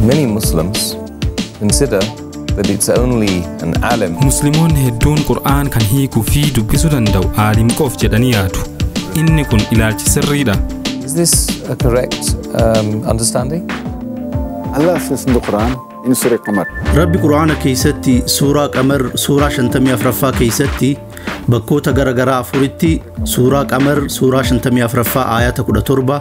Many Muslims consider that it's only an alim Muslimoonni hedduun Qur'aan kan hiikuu fi dubbisuu danda'u aalim qof jedhanii yaadu. Inni kun ilaalchi sirriidha. Is this a correct um, understanding? Allah says in the Quran, in Surah Qamar, Rabbi Qur'aana keessatti suuraa qamar suuraa 54ffaa keessatti bakkoota gara garaa afuritti suuraa qamar suuraa 54ffaa aayata 17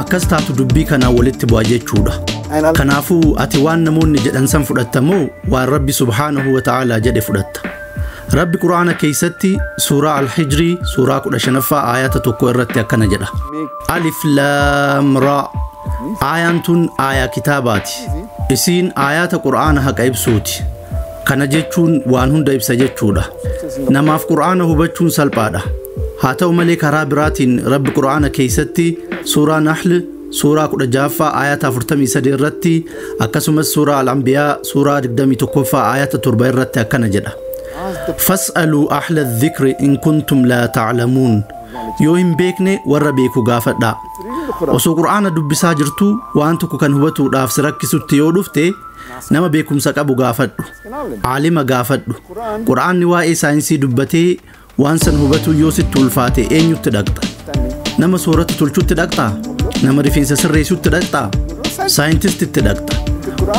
Akkas taatu dubbii kanaan walitti bu'a jechuudha. Kanaafuu ati waan namoonni jedhan san fudhatta moo waan Rabbi subhaanahu wa ta'aalaa jedhe fudhatta? Rabbi Qur'aana keessatti suuraa Al-Hijrii suuraa 15ffaa aayata tokko irratti akkana jedha. Alif laam raa. Aayaan tun aayaa kitaabaati. Isiin aayaata Qur'aana haqa ibsuuti. Kana jechuun waan hunda ibsa jechuudha. Namaaf Qur'aana hubachuun salphaadha. Haa ta'u malee karaa biraatiin Rabbi Qur'aana keessatti suuraa Nahl suuraa 16ffaa ayata 43 irratti akkasumas suuraa Al-Anbiyaa suuraa 21ffaa ayata 7 irratti akkana jedha. Fas'aluu ahla dhikri in kuntum laa ta'lamuun. Yoo hin beekne warra beeku gaafadha. Osoo Qur'aana dubbisaa jirtuu waan tokko kan hubatuudhaaf si rakkisutti yoo dhufte Nama beekumsa qabu gaafadhu. Aalima gaafadhu. Qur'aanni waa'ee saayinsii dubbatee waan san hubatuu yoo sitti ulfaate eenyutti dhaqxa? Nama soorata tolchutti dhaqxaa? Nama rifeensa sirreessutti dhaqxaa? Saayintistitti dhaqxa.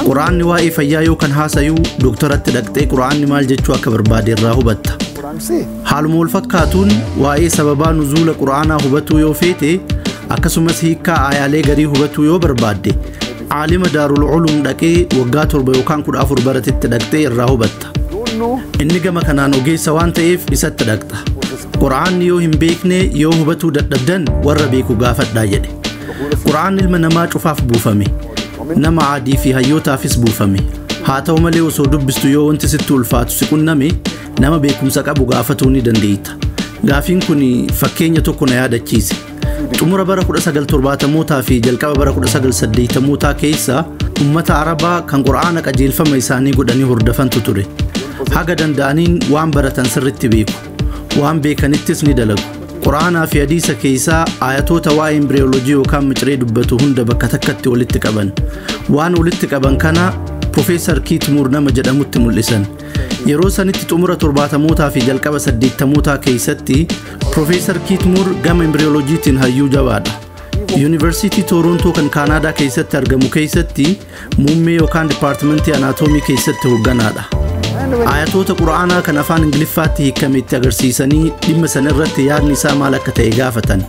Qur'aanni waa'ee fayyaa yoo kan haasayuu dooktaratti dhaqxee qur'aanni maal jechuu akka barbaade irraa hubatta. Haaluma wal fakkaatuun waa'ee sababaa nuzuula qur'aanaa hubatuu yoo feete akkasumas hiikkaa aayaalee garii hubatuu yoo barbaadde Aalima Daarul Uluum dhaqee waggaa torba yookaan kudha afur baratetti dhaqxee irraa hubatta. Inni gama kanaan ogeessa waan ta'eef isatti dhaqxa. Qura'aanni yoo hin beekne yoo hubatuu dadhabdan warra beeku gaafadhaa jedhe. Qura'aan ilma namaa cufaaf buufame. Nama aadii fi hayyootaafis buufame. Haa ta'u malee osoo dubbistu yoo wanti sitti ulfaatu si qunname nama beekumsa qabu gaafatuu ni dandeetta. Gaafiin kun fakkeenya tokko na yaadachiise. Xumura bara 1970mootaa fi jalqaba bara 1980mootaa keessa ummata Arabaa kan Qur'aana qajeelfama isaanii godhanii hordofantu ture. Haga danda'aniin waan baratan sirritti beeku. Waan beekanittis ni dalagu. Qur'aanaa fi hadiisa keessaa ayatoota waa'ee imbriyoolojii yookaan miciree dubbatu hunda bakka takkatti walitti qaban. Waan walitti qaban kana Profeesar Kiit Muur nama jedhamutti mul'isan. Yeroo sanitti xumura 70mootaa fi jalqaba 80mootaa keessatti Profeesar Kiit Muur gama imbriyooloojiitiin hayyuu jabaadha. Yuunivarsiitii Toorontoo kan Kaanaadaa keessatti argamu keessatti muummee yookaan dipaartimentii anaatoomii keessatti hoogganaadha. Ayatoota Qura'aanaa kan afaan Ingiliffaatti hiikame itti agarsiisanii dhimma sana irratti yaadni isaa maal akka ta'e gaafatan.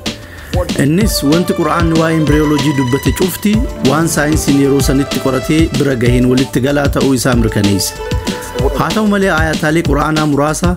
Innis wanti Qura'aanni waa'ee imbriyooloojii dubbate cufti waan saayinsiin yeroo sanitti qoratee bira gaheen walitti galaa ta'uu isaa mirkaneessa. Haa ta'u malee ayataalee Qura'aanaa muraasa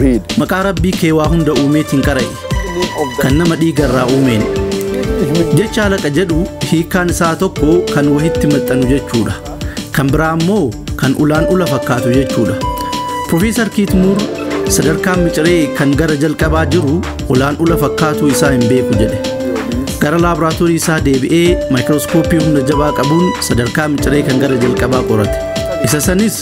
Read. Maqaa Rabbii kee waa hunda uumeetiin qara'i. Kan nama dhiiga irraa uumeen. Jecha halaqa jedhu hiikkaan isaa tokko kan wahitti maxxanu jechuudha. Kan biraa immoo kan ulaan ula fakkaatu jechuudha. Profeesar Kiitmuur sadarkaan miciree kan gara jalqabaa jiru ulaan ula fakkaatuu isaa hin beeku jedhe. Gara laaboraatoorii isaa deebi'ee maayikirooskooppii humna jabaa qabuun sadarkaa miciree kan gara jalqabaa qorate. Isa sanis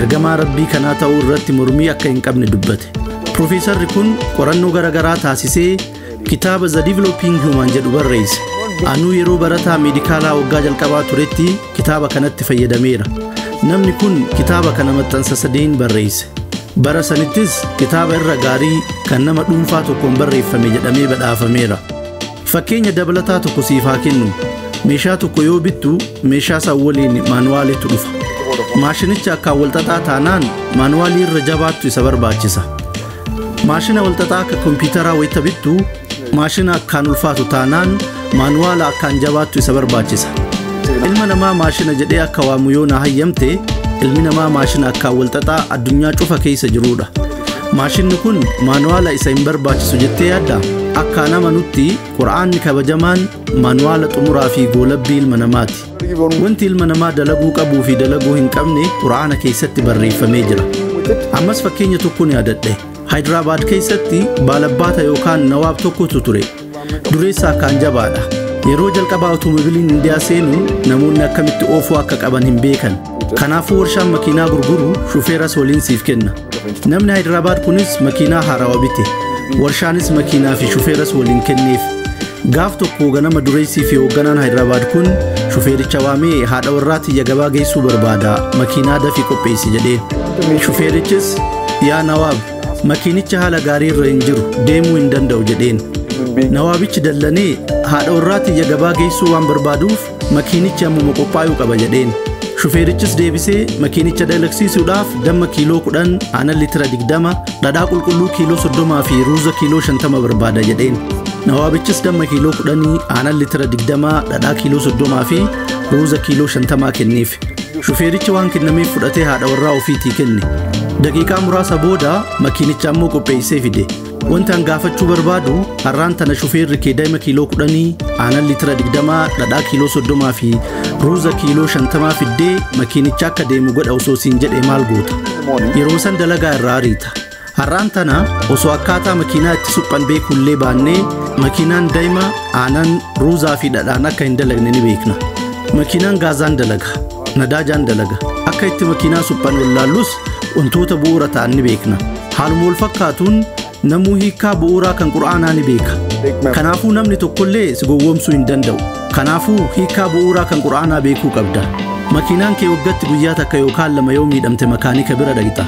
ergamaa rabbii kanaa ta'uu irratti mormii akka hin qabne dubbate. Piroofeesarri kun qorannoo garaagaraa taasisee kitaaba The Developing Human jedhu barreesse. Anuu yeroo barataa meedikaalaa waggaa jalqabaa turetti kitaaba kanatti fayyadameera. Namni kun kitaaba kana maxxansa sadeen barreesse. Bara sanittis kitaaba irra gaarii kan nama dhuunfaa tokkoon barreeffame jedhamee badhaafameera. Fakkeenya dabalataa tokko siif haa kennu. Meeshaa tokko yoo bittu meeshaa san waliin maanuwaaliitu dhufa. Maashinicha akkaan walxaxaa taanaan maanuwaalii irra jabaattu isa barbaachisa. Maashina walxaxaa akka kompiitaraa wayita bittu maashina akkaan ulfaatu taanaan maanuwaala akkaan jabaattu isa barbaachisa. Ilma namaa maashina jedhee akka waamu yoo na hayyamte ilmi namaa maashina akkaan walxaxaa addunyaa cufa keessa jirudha. Maashinni kun maanuwaala isa hin barbaachisu jettee yaadda? Akkaan amanutti Qur'aanni kabajamaan maanuwaala xumuraa fi goolabbii ilma namaati. Wanti ilma namaa dalaguu qabuu fi dalaguu hin qabne Qur'aana keessatti barreeffamee jira. Ammas fakkeenya tokkon yaadadhe. Hayidirabaad keessatti baalabbaata yookaan nawaab tokkotu ture. Dureessa akkaan jabaadha. Yeroo jalqabaa awutomobiliin Indiyaa seenu namoonni akkamitti oofuu akka qaban hin beekan. Kanaafuu warshaan makiinaa gurguru shufeeras waliin siif kenna. Namni Hayidarabaad kunis makiinaa haarawa bite. Warshaanis makiinaa fi shufeeras waliin kenneef. Gaaf tokko ganama dureessii fi hoogganaan Hayidarabaad kun shufeericha waamee haadha warraa tiyya gabaa geessuu barbaada makiinaa dafii qopheessi jedhee. Shufeerichis yaa Nawaab Makiinicha haala gaarii irra hin jiru deemuu hin danda'u jedheen. Nawaabichi dallanee haadha warraa tiyya gabaa geessuu waan barbaaduuf makiinichi ammuma qophaa'uu qaba jedheen. Shufeerichis deebisee makiinicha dalagsiisuudhaaf damma kiiloo 10, aanan litira 20, dhadhaa qulqulluu kiiloo 30 fi ruuza kiiloo 50 barbaada jedheen. Nawaabichis damma kiiloo 10, aanan litira 20, dhadhaa kiiloo 30 fi ruuza kiiloo 50 kenneef. Shufeerichi waan kennameef fudhatee haadha warraa ofiitii kenne. Daqiiqaa muraasa booda makiinicha ammoo qopheessee fide. Wanti an gaafachuu barbaadu har'aan tana shufeerri kee daa'ima kiiloo kudhanii aanan litira digdamaa dhadhaa kiiloo soddomaa fi ruuza kiiloo shantamaa fiddee makiinicha akka deemu godha osoo siin jedhee maal goota? Yeroo san dalagaa irraa ariita. Har'aan tana osoo akkaataa makiinaa itti suphan beekullee baannee makiinaan daima aanan ruuzaa fi dhadhaan akka hin dalagne ni beekna. Makiinaan gaazaan dalaga, nadaajaan dalaga. Akka itti makiinaa suphan wallaallus wantoota bu'uura ta'an ni beekna. Haaluma wal fakkaatuun namuu hiikkaa bu'uuraa kan qur'aanaa ni beeka. Kanaafuu namni tokkollee si gowwoomsuu hin danda'u. Kanaafuu hiikkaa bu'uuraa kan qur'aanaa beekuu qabda. Makiinaan kee waggatti guyyaa takka yookaan lama yoo miidhamte makaanika bira dhaqxa.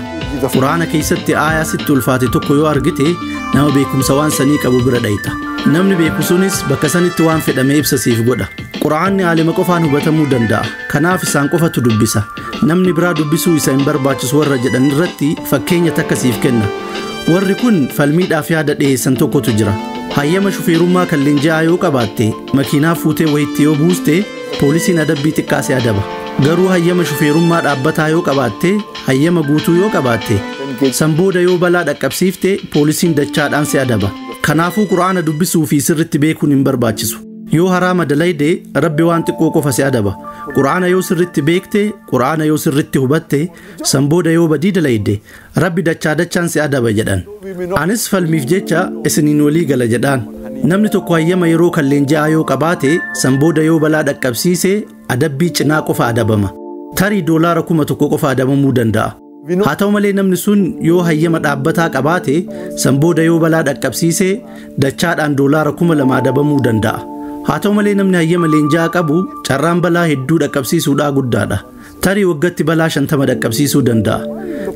Quraana keessatti aayaa sitti ulfaate tokko yoo argite nama beekumsa waan sanii qabu bira dhayxa. Namni beeku sunis bakka sanitti waan fedhame ibsa siif godha. Quraanni aalima qofaan hubatamuu danda'a. Kanaaf isaan qofatu dubbisa. Namni biraa dubbisuu isa hin barbaachisu warra jedhan irratti fakkeenya takka siif kenna. Warri kun falmiidhaaf yaada dhiyeessan tokkotu jira. Hayyama shufeerummaa kan leenji'aa yoo qabaatte makiinaa fuutee wayitti yoo buuste poolisiin adabbii xiqqaa si adaba. Garuu hayyama shufeerummaa dhaabbataa yoo qabaatte hayyama guutuu yoo qabaatte san booda yoo balaa dhaqqabsiifte poolisiin dachaadhaan si adaba kanaafuu qur'aana dubbisuu fi sirritti beekuun hin barbaachisu yoo haraama dalayde rabbi waan xiqqoo qofa si adaba qur'aana yoo sirritti beekte qur'aana yoo sirritti hubatte san booda yoo badii dalayde rabbi dachaa dachaan si adaba jedhan anis falmiif jecha isiniin walii gala jedhaan namni tokko hayyama yeroo kan leenji'aa yoo qabaate san booda yoo balaa dhaqqabsiise adabbii cinaa qofa adabama. Tarii doolaara kuma tokko qofa adabamuu danda'a. Haa ta'u malee namni sun yoo hayyama dhaabbataa qabaate san booda yoo balaa dhaqqabsiise dachaadhaan doolaara kuma lama adabamuu danda'a. Haa ta'u malee namni hayyama leenjaa qabu carraan balaa hedduu dhaqqabsiisuudhaa guddaadha. Tarii waggatti balaa shantama dhaqqabsiisuu danda'a.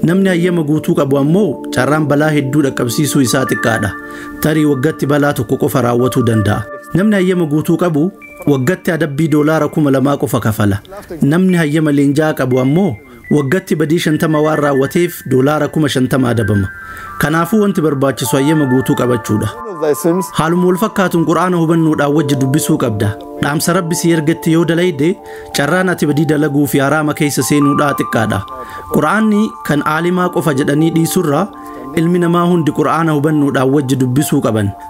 Namni hayyama guutuu qabu ammoo carraan balaa hedduu dhaqqabsiisuu isaa xiqqaadha. Tarii waggatti balaa tokko qofa raawwatuu danda'a. Namni hayyama guutuu qabu waggatti adabbii doolaara kuma lamaa qofa kafala. Namni hayyama leenjaa qabu ammoo waggatti badii shantama waan raawwateef doolaara kuma shantama adabama. Kanaafuu wanti barbaachisu hayyama guutuu qabachuudha. Haaluma wal fakkaatuun Qur'aana hubannoodhaan wajji dubbisuu qabda. Dhaamsa Rabbi si ergetti yoo dalayde carraan ati badii dalaguu fi haraama keessa seenuudhaa xiqqaadha. Qur'aanni kan aalimaa qofa jedhanii dhiisurraa ilmi namaa hundi Qur'aana hubannoodhaan wajji dubbisuu qaban.